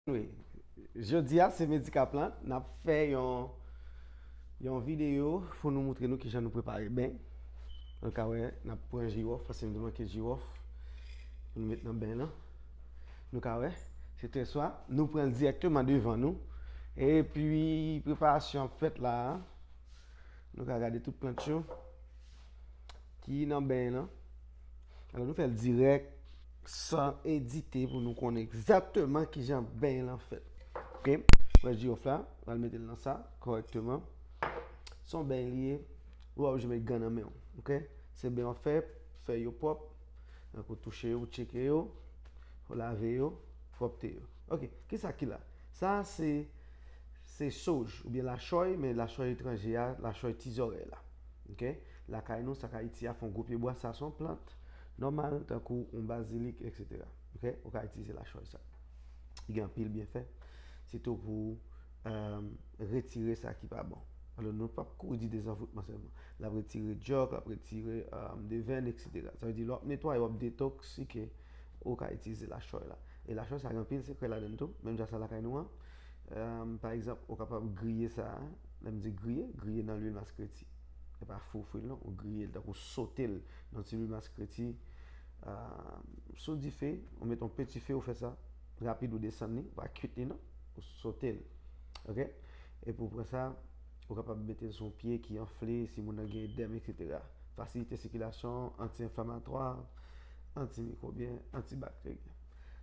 Wi, jodi a se Medikaplant, n ap fè yon yon videyo pou nou moutre nou kijan nou prepare ben Nou ka wè, n ap pran jiwòf, paske m te manke jiwòf pou nou met nan ben lan Nou ka wè, se trè swa, nou pran l dirèkteman devan nou Epi preparasyon ap fèt la a Nou ka gade tout plant yo ki nan ben lan. Alò nou fèl dirèk san edite pou nou konnen egzatman ki jan ben lan fèt. Ok, wè jirof la, wè l mete l nan sa, korèkteman. Son ben li ye, wè ou jeme gan nan men ou. Ok, se ben ou fè, fè yo pwòp, an kou touche yo, tcheke yo, ou lave yo, pwòpte yo. Ok, ki sa ki la? Sa se, se soj, ou byen la choy, men la choy etranje a, la choy ti zorèy la. Ok lakay nou sak ayiti a fon gwo pye bwa sa son plant nòmal tankou yon bazilik etc ok ou ka itilize la choy sa li gen anpil byenfè sitou pou retire sa ki pa bon alò nou pap kouri di dezavoutman sèlman lap retire dyòk lap retire devèn etc sa vle di lè wap netwaye wap detoksike ou ka itilize la choy la e la choy sa gen anpil sekrè ladann tou menm jan sa lakay nou an. Pa egzanp, ou kapab griye sa a, lè m di griye, griye nan lwil maskreti. E pa fou fri l non, ou griye l, tankou sote l nan ti lwil maskreti sou dife, ou met yon peti fe ou fè sa, rapid ou desann li, ou pa kuit li non, ou sote l. Ok, epi ou pran sa, ou kapab mete l sou yon pye ki anfle, si moun nan gen edèm eksetera. Fasilite sikilasyon, anti-enflamatwa, anti-mikwobyen, anti-bakteryen.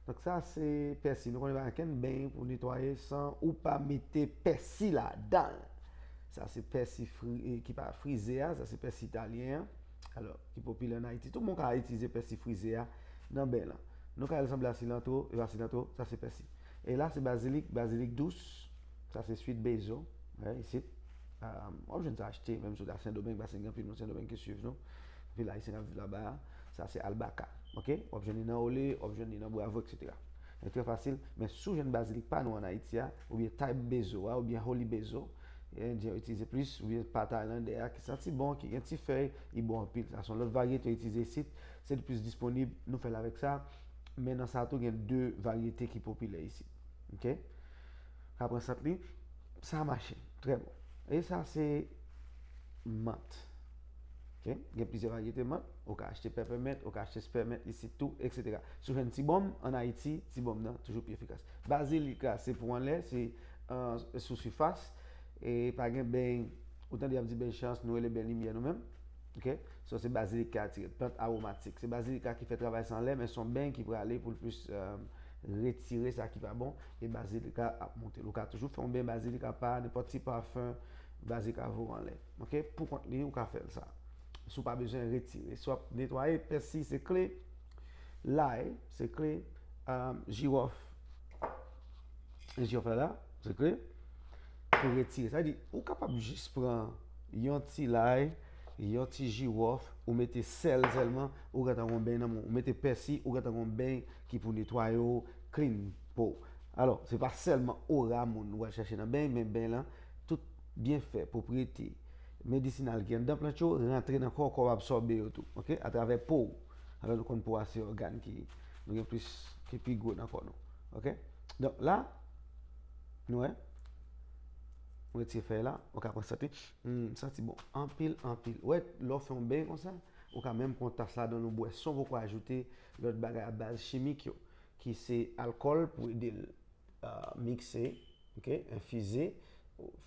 Donk sa se pèsi. Nou konnen pa gen kenn beny pou netwaye san ou pa mete pèsi ladan l. Sa se pèsi ki pa frize a, sa se pèsi italyen an. Alò, ki popilè an Ayiti. Tout moun ka itilize pèsi frize a nan beny lan. Nou ka el sanble a silantro, e pa silantro, sa se pèsi. E la se bazilik, bazilik dous, sa se swit bezo, wè isit. Wap jwenn sa achte menm si w ta Sendomeng, paske gen anpil moun Sendomeng ki swiv nou. Anpil Ayisyen kap viv laba a. Sa se Albaca ok wap jwenn li nan Olé wap jwenn li nan Bravo etc. Li trè fasil men si w jwenn bazilik pa nou an Ayiti a oubyen Type Bezo a oubyen Holy Bezo Endyen yo itilize plis oubyen pa Taylandè a ki santi bon ki gen ti fèy li bon anpil sa se yon lòt varyete yo itilize isit se li plis disponib nou fè l avèk sa men nan sa tou gen 2 varyete ki popilè isit ok ka pran sant li sa mache trè bon e sa se Mant. Ok, gen plizyè varyete mant. Ou ka achte pèpèmint, ou ka achte spèmint isit tou, eksetera. Si w jwenn ti bonm, an Ayiti, ti bonm nan toujou pi efikas. Bazilik la se pou anlè, se sou sifas. E pa gen beny, ou tande y ap di beny chans, nou rele beny limyè nou menm. Ok, so se bazilik ki atire. Plant awomatik. Se bazilik la ki fè travay sa anlè, men son beny ki prale pou l plis retire sa ki pa bon, e bazilik la ap monte l. Ou ka toujou fè yon beny bazilik apa, nenpòt ti pafen, bazilik la voye w anlè. Ok pou kont li ou ka fèl sa si w pa bezwen retire si wap netwaye pèsi se kle lay se kle jiwòf jiwòf la la se kle pou retire sa di ou kapab jis pran yon ti lay yon ti jiwòf ou mete sèl sèlman ou gen tan gon beny nan men ou mete pèsi ou gen tan gon beny ki pou netwaye ou klin pou alò se pa sèlman ora moun wal chache nan beny men beny lan tout Byenfè, pwopriyete, medisinal ki anndan plant yo rantre nan kò w, kò w absòbe yo tou, ok, atravè po w. Alò nou konn po a se ògàn ki nou gen plis, ki pi gwo nan kò nou. Ok? Donk la, nou wè, m retire fèy la, ou ka pran sante, humm, santi bon anpil, anpil. Ou wè, lè w fè yon beny konsa, ou ka menm pran tas la dan l ou bwè san w poko ajoute lòt bagay abaz chimik yo, ki se alkòl pou ede l mikse. Ok, infuser.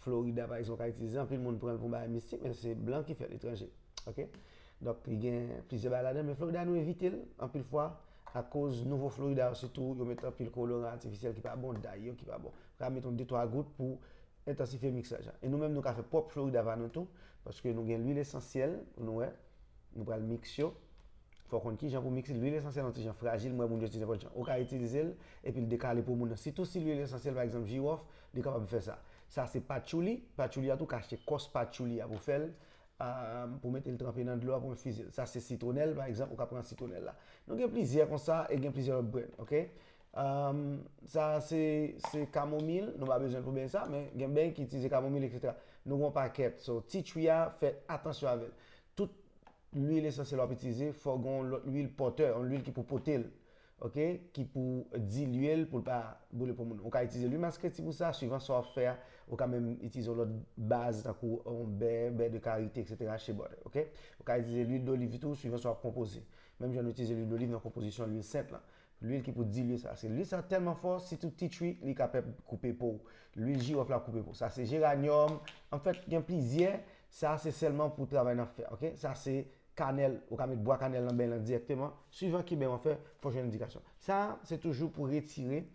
Florida pa ekzanp ka itilize, anpil moun pran l pou bagay mistik men se blan ki fè l, etranje. Ok, donk li gen plizyè bagay ladan l men Florida nou evite l anpil fwa akoz nouvo Florida yo sitou yo met anpil koloran atifisyèl ki pa bon, day yo ki pa bon. Ou ka met yon de twa gout pou entansifye miksaj la. E nou menm nou ka fè pwòp Florida pa nou tou paske nou gen lwil esansyèl nou wè. Nou pral mix yo. Fò konn kijan pou mix li. Lwil esansyèl yon ti jan frajil, mwen wè moun yo di nenpòt jan. Ou ka itilize l epi l dekale po moun nan. Sitou si lwil esansyèl pa egzanp jiwòf, li kapab fè sa. Sa se patchouli, patchouli a tou ka achte kòs patchouli a pou fè l, pou mete l tranpe nan dlo a pou enfize l. Sa se sitwonèl pa egzanp, ou ka pran sitwonèl la. Nou gen plizyè konsa e gen plizyè lòt brenn, ok. Ahm sa a se se kamomil, nou pa bezwen l pou beny sa, men gen beny ki itize kamomil etc. Nou gen yon pakèt. So ti chwi a fè atansyon avè l. Tout lwil esansyèl wap itize fò gen yon lòt lwil pòtè, yon lwil ki pou pote l. Ok, ki pou dilye l pou l pa boule poumon nou. Ou ka itize lwi maskreti pou sa, swivan sa wap fè a, ou ka menm itize yon lòt baz tankou yon bè, bè de karite etc. Shea butter ok. Ou ka itize lwil doliv tou swivan sa wap konpoze. Menm jan nou itize lwil doliv nan konpozisyon lwil sent lan. Lwil ki pou dilye sa. Se lwil sa telman fò sitou ti chwi li ka pèp koupe pow. Lwil jirof la koupe pow. Sa se geranium an fèt gen plizyè sa se selman pou travay nan fè ok. Sa se kanèl ou ka met bwa kanèl nan beny lan direkteman. Swivan kiben wap fè fò jwenn endikasyon. Sa se toujou pou retire.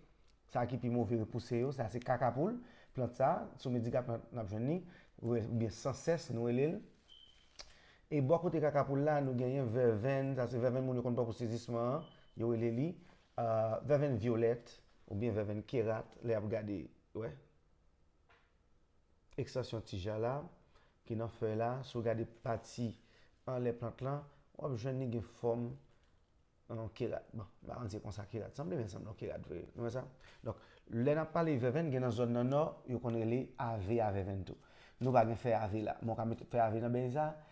Sa ki pi move repouse yo, sa se kaka poul, plant sa, sou Medigap n ap jwenn li, oubyen san sès nou rele l. E bò kote kaka poul la, nou genyen vèvenn, sa se vèvenn moun yo konn pran pou sezisman an, yo rele li vèvenn vyolèt, oubyen vèvenn kerat, lè y ap gade, wè, ekstansyon tija la, ki nan fèy la, si w gade pati anlè plant lan, w ap jwenn li gen fòm. Nan yon ke rat. Bon, m pa konn si se konsa ke rat sanble men l sanble yon ke rat vre. Nou wè sa? Donk, lè n ap pale vèvenn, gen nan zòn nan nò, yo konn rele ave a vèvenn tou. Nou pa gen fè ave la, men w ka mete fè ave nan beny sa a,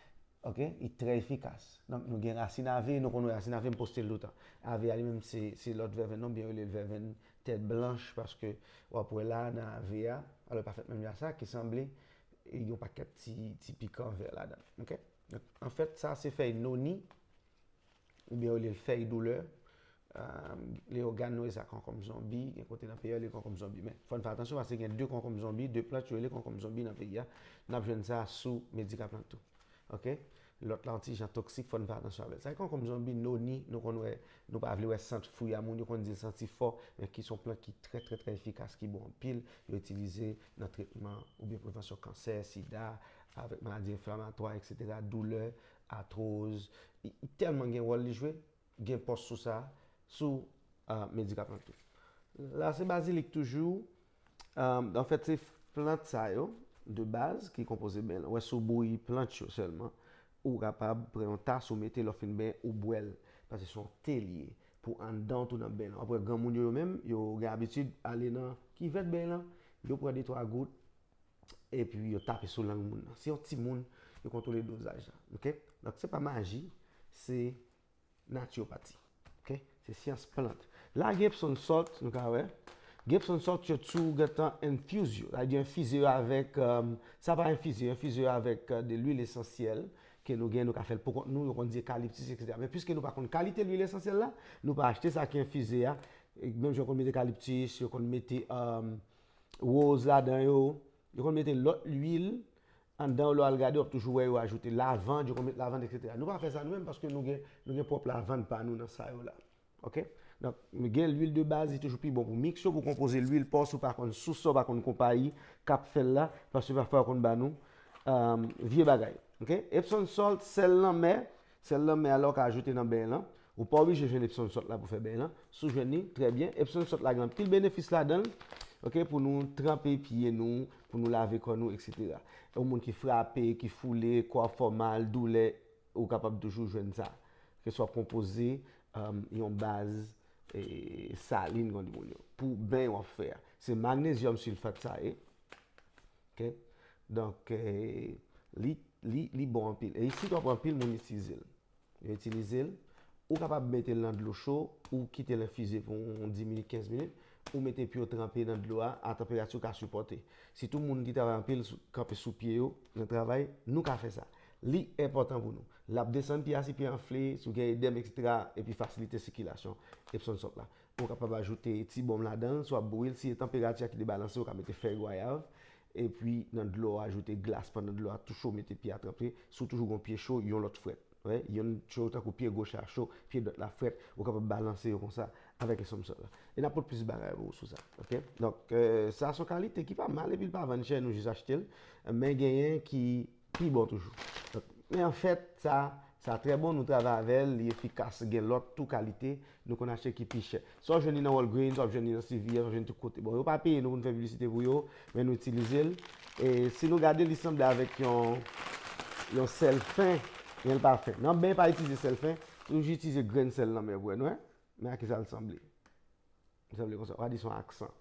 ok, li trè efikas. Donk, nou gen rasin ave, nou konn wè rasin ave, m poste l toutan. Ave a li menm se, se lòt vèvenn nan, ou byen yo rele l vèvenn tèt blanch paske w ap wè la a nan ave a, alò li pa fèt menm jan sa, ki sanble, li gen yon pakèt ti, ti pikan vè ladan l. Ok? Donk, anfèt, sa a se fèy noni. oubyen yo li l fèy doulè, lè yo gad nou rele sa konkonm zonbi, gen kote nan peyi yo rele li konkonm zonbi men fò n fè atansyon paske gen 2 konkonm zonbi, 2 plant yo rele konkonm zonbi nan peyi a, n ap jwenn sa sou Medikaplant tou ok, lòt la yon ti jan toksik fò n fè atansyon avè l. Sa ki konkonm zonbi, noni, nou konn wè, nou pa vle wè sant fwi a moun yo konn di l santi fò men ki s on plant ki trè trè trè efikas ki bon anpil, yo itilize nan tretman oubyen prevansyon kansè, sida, avèk maladi enflamatwa eksetera, doulè, Atroz li telman gen wòl li jwe gen pòs sou sa sou medikaman tou la se bazilik toujou anfèt se plant sa yo de baz ki konpoze ben lan wè sou bouyi plant yo sèlman ou kapab pran yon tas ou mete lè w fin benyen ou bwè l paske se yon te li ye pou anndan w tou nan ben lan wap wè granmoun yo yo menm yo gen abitid ale nan kivèt ben lan yo pran de twa gout epi yo tape sou lang moun nan. Se yon ti moun yo kontwole dozaj la. Ok? Donk se pa maji, se natyopati. Ok? Se syans plant. La gen epson sòt, nou ka wè. Gen epson sòt yo tou gen tan enfuse yo. La di enfize yo avèk, sa pa enfize yo, enfize yo avèk de lwil esansyèl ke nou gen, nou ka fè l poukont nou, yo konn di ekaliptis eksetera. Men piske nou pa konn kalite lwil esansyèl la, nou pa achte sa ki enfize a. Menm jan yo konn mete ekaliptis, yo konn mete woz ladan yo, yo konn mete lòt lwil anndan yo lè w al gade w ap toujou wè yo ajoute lavand, yo konn met lavand eksetera. Nou pa fè sa nou menm paske nou gen nou gen pwòp lavand pa nou nan sa yo la ok. Donk nou gen lwil de baz li toujou pi bon pou miks yo pou konpoze lwil pa w si w pa konn sous la w pa konn konpayi k ap fè l la paske pafwa yo konn ba nou vye bagay ok. Epson salt, sèl lanmè, Sèl nan men a la ou ka ajoute nan beny lan, ou pa oblije jwenn epson sòt la pou fè beny lan, si w jwenn li trè byen, epson sòt la gen anpil benefis ladanl ok pou nou tranpe pye nou, pou nou lave kò nou etc. Yon moun ki frape, ki foule, kò ap fè w mal, doulè, ou kapab toujou jwenn sa, ke swa konpoze yon baz salin pou beny wap fè a, se magnezyòm silfat sa ye. Ok donk li li li bon anpil e isit wap wè anpil moun itize l yo itilize l ou kapab mete l nan dlo cho ou kite l enfize pou yon 10 minit 15 minit ou mete pye w tranpe nan dlo a a tanperati w ka sipòte sitou moun ki travay anpil kanpe sou pye yo nan travay nou ka fè sa li enpòtan pou nou lap desann pye a si pye a anfle si w gen edèm ekstra epi fasilite sikilasyon epsonsòt la Ou kapab ajoute ti bonm ladan l, swa bouyi l si e tanperati a ki debalanse ou ka mete fèy gwayav epi nan dlo a ajoute glas pandan dlo a tou cho mete pye a tranpe si w toujou gen yon pye cho yon lòt frèt wè yonn cho tankou pye goch la cho pye dwat la frèt ou kapab balanse yo konsa avèk epsom salt la e n ap pot plis bagay pou ou sou sa ok donk sa son kalite ki pa mal epi l pa vann chè nou jis achte l men genyen ki Pi bon toujou. Men an fèt, sa, sa trè bon, nou travay avè l, li efikas, gen lòt tou kalite, nou konn achte ki pi chè. Sa w jwenn li nan Walgreens, w ap jwenn li nan CVS, w ap jwenn tout kote. Bon, yo pa peye nou pou nou fè piblisite pou yo, men nou itilize l. E si nou gade l, li sanble avèk yon, yon sèl fen, men l pa fen. Nan ben pa itilize sèl fen, toujou itilize grenn sèl lanmè, w wè, nou wè? Men a ki sa l sanble. Li sanble konsa. Ou ka di son aksan.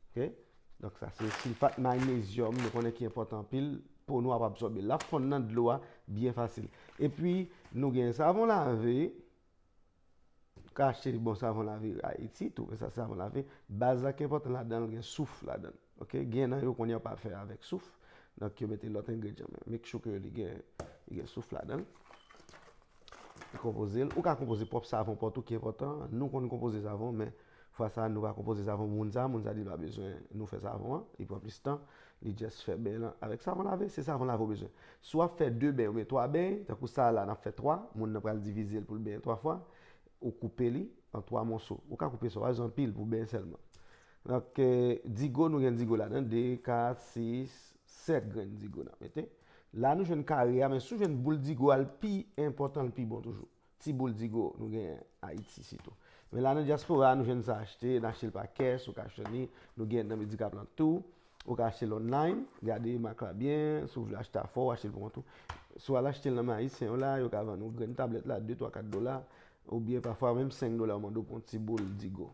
Ok? Donk sa se silfat magnezyòm nou konnen ki enpòtan anpil. Po nou ap absòbe l. L ap fonn nan dlo a byen fasil. E pi nou gen savon lave. Ou ka achte bon savon lave Ayiti tou. Men sa se savon lave. Baz la ki enpòtan ladan l gen souf ladan l. Ok gen nan yo konn yo pa fè avèk souf donk yo mete lòt engredyan men make sure ke li gen li gen souf ladan l e konpoze l ou ka konpoze pwòp savon pa w tou ki enpòtan nou konn konpoze savon men fwa sa nou va konpoze savon pou moun sa moun sa di l pa bezwen nou fè savon an li pran plis tan li jès fè ben l avèk savon lave se savon lave ou bezwen si w ap fè 2 beny oubyen 3 beny tankou sa a la n ap fè 3 moun nan pral divize l pou l benyen 3 fwa ou koupe li an 3 moso ou ka koupe sa w a bezwen anpil pou beny sèlman Donk digo nou gen digo ladan 2, 4, 6, 7 grenn digo nap mete. La nou jwenn kare a men sou jwenn boul digo a l pi enpòtan l pi bon toujou. Ti boul digo nou gen Ayiti sitou. Men la nan dyaspora nou jwenn sa achte, n achte l pa kès, ou ka jwenn li, nou gen nan medikab lan tou. Ou ka achte l online, gade mak la byen, si w vle achte a fò, ou achte l pou kont ou. Si w al achte l nan men Ayisyen yo la, yo ka vann ou grenn tablèt la 2, 3, 4 dola, oubyen pafwa menm 5 dola yo mande w pou yon ti boul digo.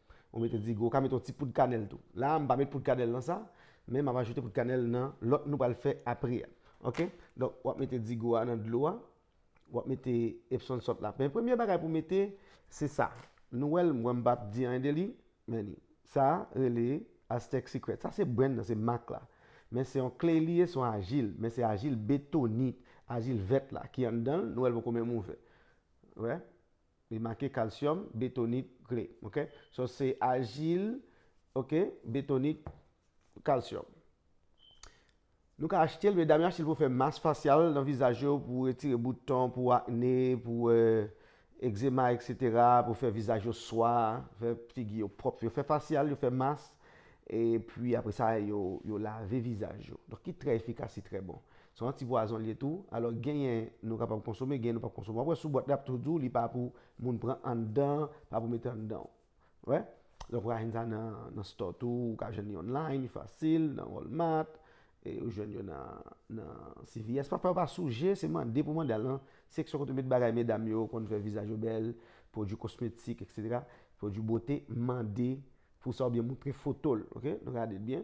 Ou mete digo, ou ka mete yon ti poud kanèl tou. La a m pa met poud kanèl nan sa, men m ap ajoute poud kanèl nan lòt nou pral fè apre a. Ok, donk wap mete digo a nan dlo a, wap mete epson salt la. Men premye bagay pou mete se sa. Nou wèl, mwen m pap di anyen de li, men li. Sa rele Aztec Secret. Sa se brand nan, se mak la. Men se yon clay li ye, se yon ajil, men se ajil betonit, ajil vèt la ki anndan l, nou wèl poko menm ouvè. Wè? Li make calcium, betonit, gle. Ok. So se ajil, ok, betonit, calcium. Nou ka achtel medam yo achtel pou fè mas fasyal nan vizaj yo pou retire bouton, pou akne, pou egzema etc. Pou fè vizaj yo swa, fè figi yo pwòp. Yo fè fasyal, yo fè mas. E pwi apre sa yo lave vizaj yo. Donk ki trè efikas, ki trè bon. Se yon ti pwazon li ye tou. Alò genyen nou kapab konsome, genyen nou pap konsome. Wap wè sou bwat la yap tou di w li pa pou moun pran anndan, pa pou mete anndan. Ou wè? Donk ou ka jwenn sa nan store tou, ou ka jwenn li online, li fasil, nan Walmart, e ou jwenn yo nan CVS. Pa fè yo pa souje, se mande pou mande al nan seksyon kote yo met bagay medam yo konn fè vizaj yo bèl, pwodui kosmetik, eksetera, pwodui bote, mande pou sa oubyen moutre foto l, oke, nou gade l byen.